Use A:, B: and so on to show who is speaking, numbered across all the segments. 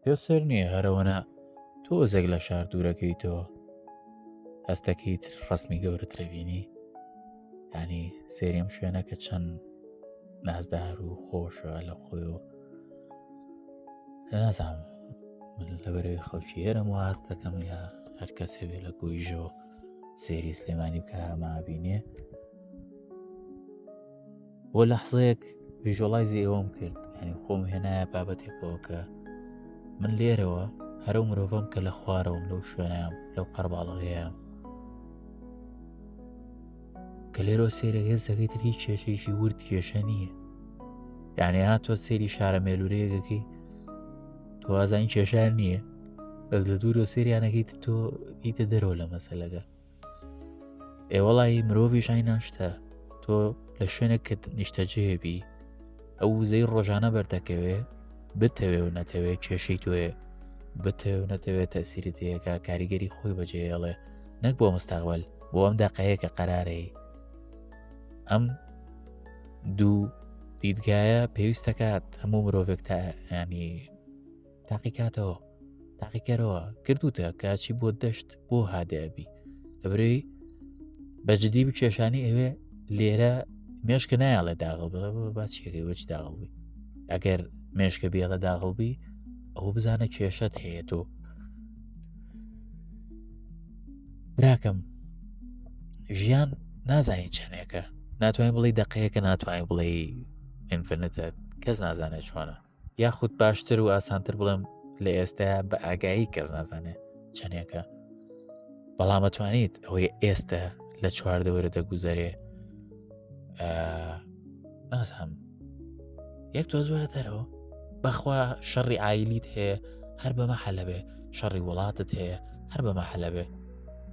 A: پێ سەر نییە هەرەوەنا تۆزێک لە شار دوورەکەیتەوە هەستەکەیت ڕسمی گەورەت لەبینی ینی سێریم شوێنەکە چەند نازدار و خۆشە لە خۆی و نازام من لەبەرەوەی خەڵکی هێرم و هەست دەکەم یا هەر کەس هەبێ لە گۆیژەوە سێری سلێمانی بکە مابینێ بۆ لەحزەیەک ڤژۆلایزی ئێوەم کرد ینی خۆم هێنایە بابەتێکەوە کە من لێرەوە هەرو مرۆڤم کە لە خوارەوەم لەو شوێنام لەو قەرباڵغەیەم کە لێرۆ سێرە هێز دەکەیت هیچ کێشێکی ورد کێشە نییە یعنی ها تۆ سێری شارە مێلورەیەگەکەی تۆ ئازانی کێشار نییە بەس لە دوورۆ سریانەکەیت تۆ ئیتە دەرەوە لە مەسەلەکە ئێ وەڵی مرۆڤی ژای ناشتە تۆ لە شوێنێک کە نیشتەجێبی ئەو وزەی ڕۆژانە بەردەکەوێ بتەوێ و نەتەوێ کێشەی توێ بتەوێ و نەتەوێت تەسیری تەیەکە کاریگەری خۆی بەجێڵێ نەک بۆ مستەغوەل بۆ ئەم دەقەیە کە قەرارەی ئەم دوو دیدگایە پێویستەکات هەموو مرۆڤێک تا ینی تاقیکاتەوە تاقیکەرەوە کردوتە کاچی بۆ دەشت بۆ هادەبی لەبرەوەی بەجددی بکێشانی ئەوێ لێرە مێشکە نایڵێ داغڵ باچێکی وەچ داغڵبی ئەگەر مێشکە بێڵە داغڵبی ئەو بزانە کێشت هەیە تۆ براکەم ژیان نازانین چەندێکە ناتوانین بڵی دقەیەکە ناتوانین بڵێ ئینفنتە کەس نازانێت چۆنە یاخود باشتر و ئاسانتر بڵێم لە ئێستا بە ئاگایی کەس نازانێت چەندێکە بەڵامەتوانیت ئەوەی ئێستا لە چواردەوەرە دەگوزارێ نازانم یەک تۆ زۆرە دەرەوە بەخوا شەڕی ئایلیت هەیە هەر بەمە حەلەبێ شەڕی وڵاتت هەیە هەر بەمە حەلەبێ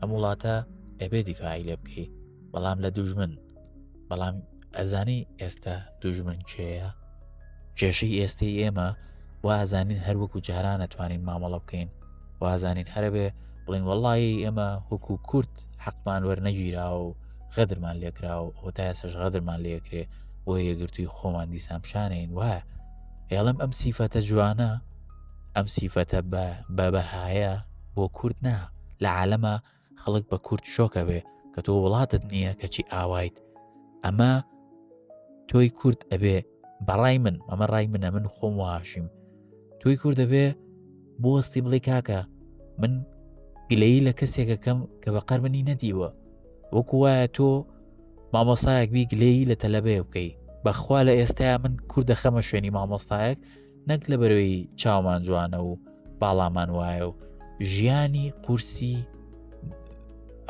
A: ئەم وڵاتە ئەبێ دیفاعی لێ بکەی بەڵام لە دوژمن بەڵام ئەزانی ئێستا دوژمن کێە کێشەی ئێستەی ئێمە وازانین هەروەکو جارانە توانین مامەڵە بکەین وازانین هەرەبێ بڵین وەڵی ئێمە وەکو کورت حەقمان وەرنەگیرا و غەدرمان لێکرا و ئەو تا سەش غەدرمان لێکرێ بۆ یەگرتووی خۆمان دیسان پیششانین وایە ئێڵم ئەم سیفەتە جوانە ئەم سیفەتە بە بەبەهایە بۆ کورد نا لە عالەمە خەڵک بە کورد شۆکەبێ کە تۆ وڵاتت نییە کەچی ئاوایت ئەمە تۆی کورد ئەبێ بەڕای من ئەمە ڕای منە من خۆم واشیم تۆی کورد دەبێ بۆستی بڵێ کاکە من گلەیی لە کەسێکەکەم کە بە قەرمنی نەدیوە وەکو وایە تۆ مامۆسایەک بی گلەیی لە تەلەبەیە بکەی بەخوا لە ئێستایا من کورد دەخەمە شوێنی مامۆستایەک نەک لە بەرەوەی چاومان جوانە و باڵامان وایە و ژیانی قورسی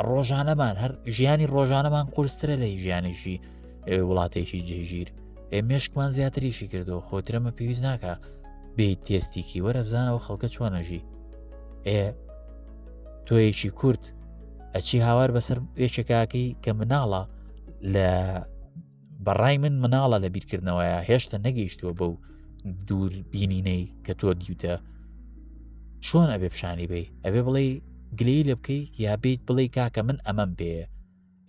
A: ڕۆژانەمان هەر ژیانی ڕۆژانەمان قورسترە لە ژیانیشی وڵاتێکی جێژیر ئێ مێشکمان زیاتریشی کردو خۆترەمە پێویست ناکە بێ تێستیکی وەرە بزانەوە خەڵکە چۆنەژی ئێ تۆیەکی کورد ئەچی هاوار بەسەر یەکێکاکەی کە مناڵە لە بەڕای من مناڵە لە بیرکردنەوەیە هێشتا نەگەیشتووە بەو دوور بینینەی کە تۆ دیوتە چۆن ئەبێ پیشانی بی ئەبێ بڵێ گلەی لە بکەی یا بیت بڵێ کاکە من ئەمەم پێ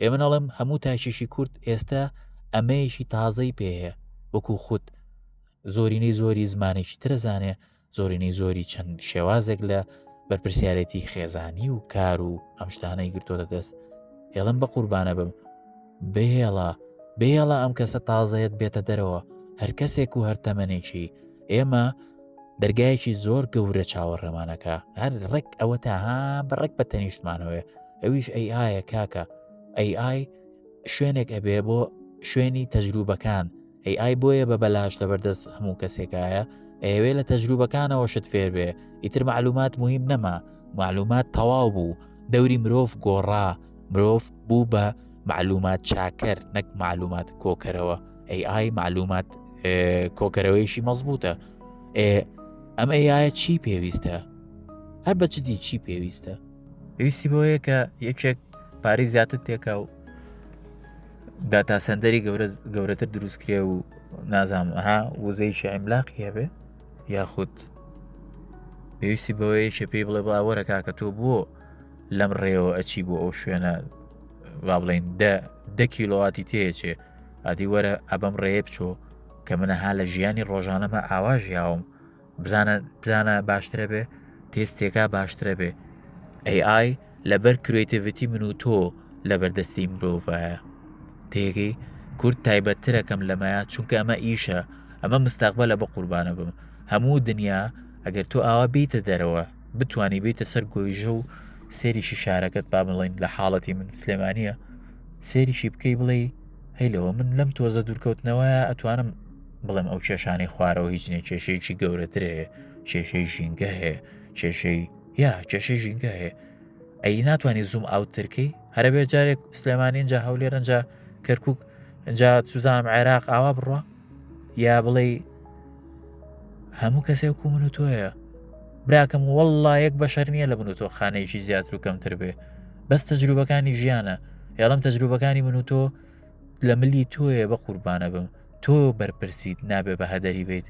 A: ئێ منەڵم هەموو تاشێکی کورد ئێستا ئەمەیەکی تازەی پێ وەکو خودت زۆرینەی زۆری زمانێکی ترەزانێ زۆرینەی زۆری چەند شێوازێک لە بەرپسیارەتی خێزانی و کار و ئەم شتانەی گرتۆتە دەست هێڵم بە قوربانە بم بهێڵە بێڵە ئەم کەسە تازەیەت بێتە دەرەوە هەر کەسێک و هەر تەمەێکی ئێمە دەرگایەکی زۆر گەورە چاوەڕێمانەکە هەر ڕێک ئەوە تاها بە ڕێک بە تەنیشتمانەوەێ ئەویش ئەی ئاە کاکە ئەی ئای شوێنێک ئەبێ بۆ شوێنی تەجروبەکان ئەی ئای بۆیە بە بەلاش لەبەردەست هەموو کەسێکایە ئەیەوێ لە تەجروبەکانەوە شت فێر بێ ئیتر معلومات مهم نەما معلومات تەواو بوو دەوری مرۆڤ گۆڕا مرۆڤ بوو بە معلومات چاکەر نەک معلومات کۆکەرەوە ئەی ئای معلومات کۆکەرەوەیشی مەزبوتە ئەم ئەیە چی پێویستە هەر بەچدی چی پێویستە پێویستی بۆیە کە یەکێک پارەی زیاتر تێکە و داتا سندەری گەورە گەورەتر دروستکرێ و نازانم ها وزەی شعیملاق هەبێ یاخود پێویستی بەوەیە چێ پێی بڵێ باوەرە کاکە تۆ بووە لەم ڕێەوە ئەچی بۆ ئەو شوێنە با بڵین دە دە کیلوواتی تێچێ ئادی وەرە ئەبەم ڕێ بچۆ کە منەها لە ژیانی ڕۆژانەمە ئاواژیاوم بزانە بزانە باشترە بێ تێستێکا باشترە بێ AI لەبەر کرێتیڤەتی من و تۆ لە بەردەستی مرۆڤایە تێگەی کورد تایبەتترەکەم لەمەیە چونکە ئەمە ئیشە ئەمە مستاقبە لە بە قوربانە بم هەموو دنیا ئەگەر تۆ ئاوا بیتە دەرەوە بتانی بیتە سەر گۆیژە و سێریشی شارەکەت با بڵین لە حاڵەتی من سلێمانە سێریشی بکەی بڵێ هەی لەوە من لەم تۆزە دوورکەوتنەوەیە ئەتوانم بڵێم ئەو کێشانەی خوارەوە هیچ نیە کێشەیەکی گەورەتر هەیە کێشەی ژینگە هەیە کێشەی یا کێشەی ژینگە هەیە ئەی ناتوانانی زوم ئاوترکەی هەرە بێ جارێک سلێمانی اینجا هەولێرەنجا کەرکک جا سوزانم عێراق ئاوا بڕە یا بڵێ هەموو کەسێک و من و تۆیە براکەم وەڵا یەک بەشەر نییە لە من و تۆ خانەیەکی زیاتر و کەمتر بێ بەس تەجروبەکانی ژیانە یاڵم تەجروبەکانی من و تۆ لە ملی تۆیە بە قوربانە بم تۆ بەرپرسیت نابێ بە هەدەری بیت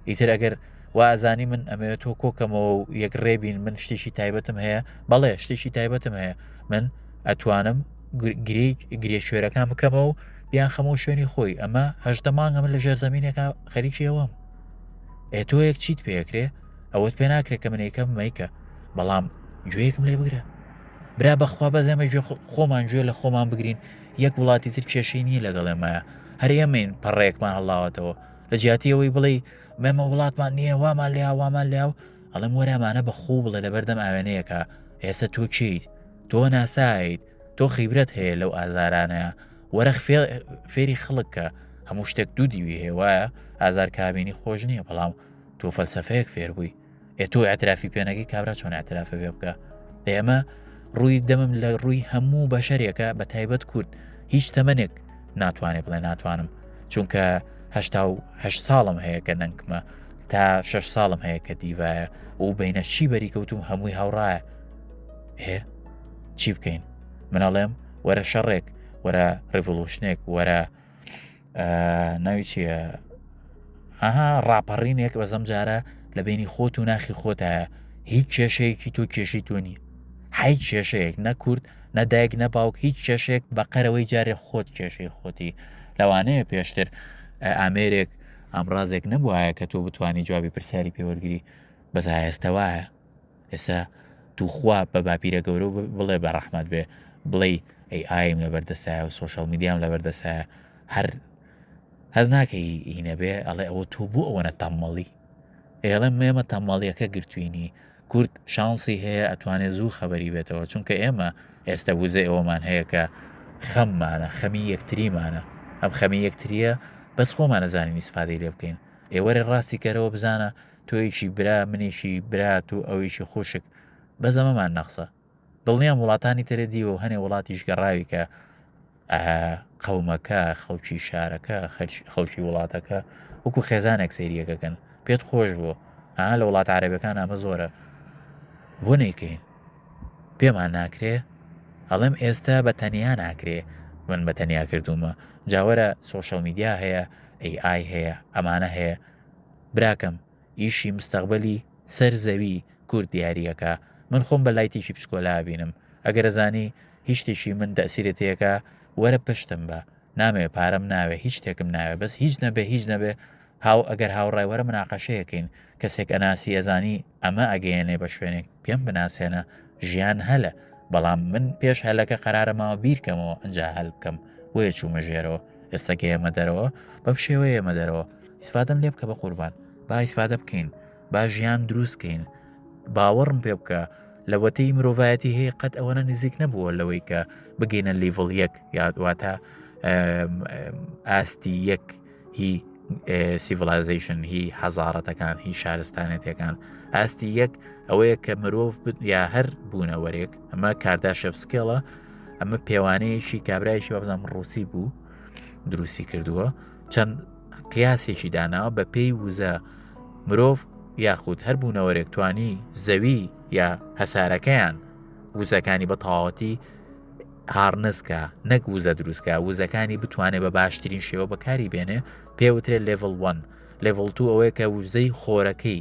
A: ئیتر ئەگەر وازانی من ئەمەوێت تۆ کۆکەمەوە و یەک ڕێبین من شتێکی تایبەتم هەیە بەڵێ شتێکی تایبەتم هەیە من ئەتوانم گرێک گرێ شوێرەکان بکەمەوە بیانخەمەوە شوێنی خۆی ئەمە هەشتە مانگە من لە ژێرزەمینێکە خەریکی ئەوەم ئێ تۆ یەک چیت پێکرێ ئەوەت پێ ناکرێت کە منێکە مەیکە بەڵام گوێیەکم لێ بگرە برا بەخوا بە زەمە خۆمان گوێ لە خۆمان بگرین یەک وڵاتی تر کێشەی نییە لەگەڵێمایە هەر ئێمەین پەڕێکمان هەڵاوەتەوە لە جیاتیەوەی بڵێ مەمە وڵاتمان نییە وامان لێ وامان لێ و ئەڵم وەرامانە بە خوو بڵێ لە بەردەم ئاوێنەیەەکە ئێستا تۆ چیت تۆ ناسایت تۆ خیبرەت هەیە لەو ئازارانەیە وەرە فێری خەڵک کە هەموو شتێک دوو دیوی هەیە وایە ئازار کابینی خۆش نییە بەڵام تۆ فەلسفەیەک فێربووی ئێ تۆ ئەترافی پێنەگەی کابرا چۆن ئەترافە بێ بکە ئێمە ڕووی دەمم لە ڕووی هەموو بەشەرێکە بە تایبەت کورد هیچ تەمەنێک ناتوانێت بڵێ ناتوانم چونکە هه ساڵم هەیە کە نەنکمە تا شش ساڵم هەیە کە دیڤایە و بینە چی بەریکەوتوم هەمووی هاوڕایە هێ چی بکەین منەڵێم وەرە شەڕێک وەرە ڕڤلوشنێک وەرە ناوی چیە ئەها ڕاپەڕینێک بە زەمجارە لە بینی خۆت و ناخی خۆتایە هیچ کێشەیەکی تۆ کێشی تۆنی حی کێشەیەک نەکورد نەدایک نە باوک هیچ کێشێک بە قەرەوەی جارێ خۆت کێشەی خۆتی لەوانەیە پێشتر ئامێرێک ئامرازێک نەبووایە کە تۆ بتانی جوابی پرسیاری پێوەرگری بەزایستەوەە ئێستا توخوا بە باپیرە گەورە و بڵێ بە ڕەحمەت بێ بڵێی ئەی ئایم لە بەردەسایە و سوۆشەڵ میدیام لە بەردەسایە هەر هەز ناکەی هینە بێ ئەڵێ ئەوە تۆ بوو ئەوەنە تەمەڵی ئێڵە مێمە تەمەڵیەکە گرتوینی کورد شانسی هەیە ئەتوانێت زوو خەبەری بێتەوە چونکە ئێمە ئێستا وزە ئەوەمان هەیە کە خەممانە خەمی یەکتریمانە ئەم خەمی یەکتریە بەس خۆمانە زانانی سپادی لێ بکەین ئێوەێ ڕاستی کەرەوە بزانە تۆیشی برا منیشی برات و ئەویشی خوشک بە زەمەمان نەخسە دڵنیام وڵاتانی ترە دیوە و هەنێ وڵاتیش گەڕاوی کە قەومەکە خەڵکی شارەکە خەڵکی وڵاتەکە وەکو خێزانێک سەیریەکەکەن پێت خۆش بوو ها لە وڵات عربەکان ئەمە زۆرە بۆ نەیکەین پێمان ناکرێ ئەڵێم ئێستا بە تەنیا ناکرێ من بە تەنیا کردومە جاوەرە سوۆشەڵ میدیا هەیە ئەی ئای هەیە ئەمانە هەیە براکەم ئیشی مستەقبەلی سەر زەوی کورد دیاریەکا من خۆم بە لایتێکی پچکۆلا ئەبینم ئەگەر ئەزانی هیچ شتێکی من تەئسیرت تێکا وەرە پشتم بە نامەوێ پارەم ناوێ هیچ شتێکم ناوێ بەس هیچ نەبێ هیچ نەبێ هاو ئەگەر هاوڕای وەرە مناقەشەیەکەین کەسێک ئەناسی ئەزانی ئەمە ئەگەیەنێ بە شوێنێک پێم بناسێنە ژیان هەلە بەڵام من پێش هەلەکە قەرارە ماوە بیرکەمەوە ئەجا هەل بکەم بۆیە چوومە ژێرەوە ئێستا گەیەمە دەرەوە بەم شێوە ئێمە دەرەوە ئیسفادەم لێ بکە بە قوربان با ئیسفادە بکەین با ژیان دروستکەین باوەڕم پێ بکە لەوەتەی مرۆڤایەتی هەیە قەت ئەوەنە نزیک نەبووە لەوەی کە بگەینە لیڤڵ یەک یادواتە ئاستی یەک هی سیڤلایزیشن هی حەزارەتەکان هی شارستانێتەکان ئاستی یەک ئەوەیە کە مرۆڤ یا هەر بوونەوەرێک ئەمە کارداشەفسکێڵە ئەمە پێوانەیەکی کابراایشی بەبزانام ڕوسی بوو دروستی کردووە چەند قیاسێکی داناوە بە پێی وزە مرۆڤ یاخود هەر بوونەوەرێکتوانی زەوی یا هەسارەکەیان وزەکانی بە تەواوەتی هارنسکە نەک وزە دروستکە وزەکانی بتوانێت بە باشترین شێوە بەکاری بێنێ پێوترێت لێڤڵ 1 لێڤڵ تو ئەوەیە کە وزەی خۆرەکەی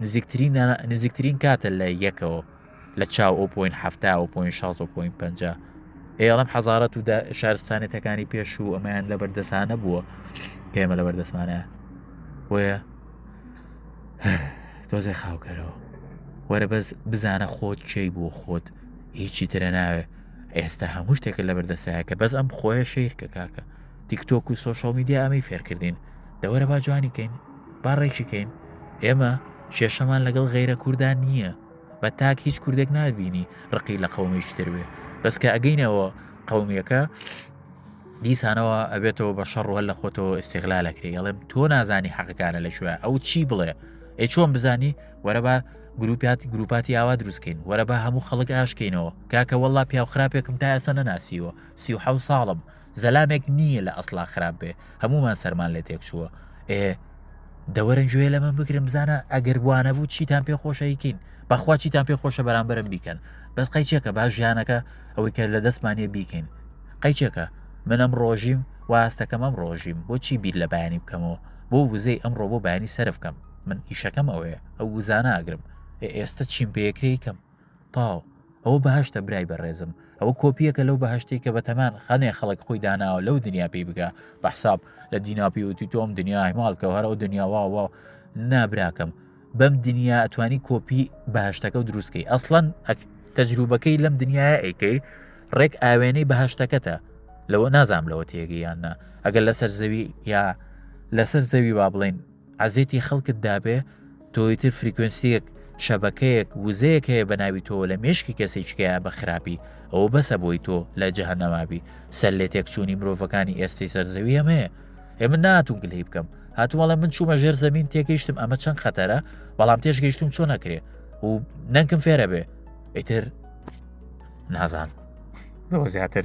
A: نزیکترین نزیکترین کاتە لە یەکەوە لە چاو ئەو پوین هەفتا و پوین 16 پوین پ ئێڵم حەزارەت و شارستانێتەکانی پێش و ئەمەیان لە بەردەسانە بووە پێمە لە بەردەسمانە بۆیە تۆزێ خاوکەرەوە وەرە بەس بزانە خۆت چی بۆ خۆت هیچی ترە ناوێ ئێستا هەموو شتێکە لە بەردەسایە کە بەس ئەم خۆیە شیر کە کاکە تیکتۆک و سوۆشال میدیا ئەمەی فێرکردین دەوەرە با جوانی کەین با ڕێکی کەین ئێمە کێشەمان لەگەڵ غیرە کوردان نییە بە تاک هیچ کوردێک نبینی ڕقی لە قومێکی تروێ بەسکە ئەگەینەوە قومیەکە دیسانەوە ئەبێتەوە بە شەڕ هەل لە خۆتەوە ئستیغلا لەکرێ ئەڵێم تۆ نازانی حەقەکانە لە شوێ ئەو چی بڵێ ئە چۆن بزانی وەرە بە گروپات گروپاتی ئاوا دروستکەین وەرە بە هەموو خەڵک ئاشکەینەوە کاکە وەڵا پیاو خراپێکم تا ئێستا نەناسیوە سی و حە ساڵم زەلامێک نی یە لە ئەسڵا خراپ بێ هەموومان سەرمان لێ تێک چووە ئێ دەوەرن گوێ لە من بگرم بزانە ئەگەر وانە بوو چیتان پێ خۆشەیکین بەخوا چیتان پێ خۆشە بەرامبرم بیکەن بەس قەیچێکە باش ژیانەکە ئەوەی کە لە دەستمانە بیکەین قەیچێکە منم ڕۆژیم واستەکەم ئەم ڕۆژیم بۆچی بیر لە بەیانی بکەمەوە بۆ وزەی ئەم ڕۆبۆ بەینی سەرفکەم من ئیشەکەم ئەوەیە ئەو وزانە ئەگرم ئێستا چیم پێکرێکم تاو، ئەوە بەهەشتە برای بەڕێزم، ئەوە کۆپییەکە لەو بەهەشتەی کە بەتەمان خانێ خەڵک خۆی داناوە لەو دنیا پێی بگا بە حساب لە دینا پێوتی تۆم دنیا هەماڵکە هەرەوە دنیا واوە نابراکەم بەم دنیا ئەتوانی کۆپی بەهشتەکە و دروستکەی ئەسڵەن تەجروبەکەی لەم دنیاە ئەیکەی ڕێک ئاوێنەی بەهشتەکەتە لەوە نازام لەوە تێگەیاننا ئەگەر لەسەر زەوی یا لەسەر زەوی با بڵین عەزێتی خەڵکت دابێ تۆیتر فریکوێنسیەک شەبەکەیەک وزەیەک هەیە بە ناوی تۆ لە مێشکی کەسێکیکەیە بە خراپی ئەوە بەسە بۆی تۆ لە جەهنەمابی سەر لێ تێکچوونی مرۆڤەکانی ئێستەی سەرزەوی ئەمەیە ئێ من ناتون گلەی بکەم هاتوواڵە من چوومە ژێر زمین تێگەیشتم ئەمە چەند خەتەرە بەڵام تێشگەیشتم چۆن نەکرێ و نەنکم فێرە بێ ئیتر نازان زیاتر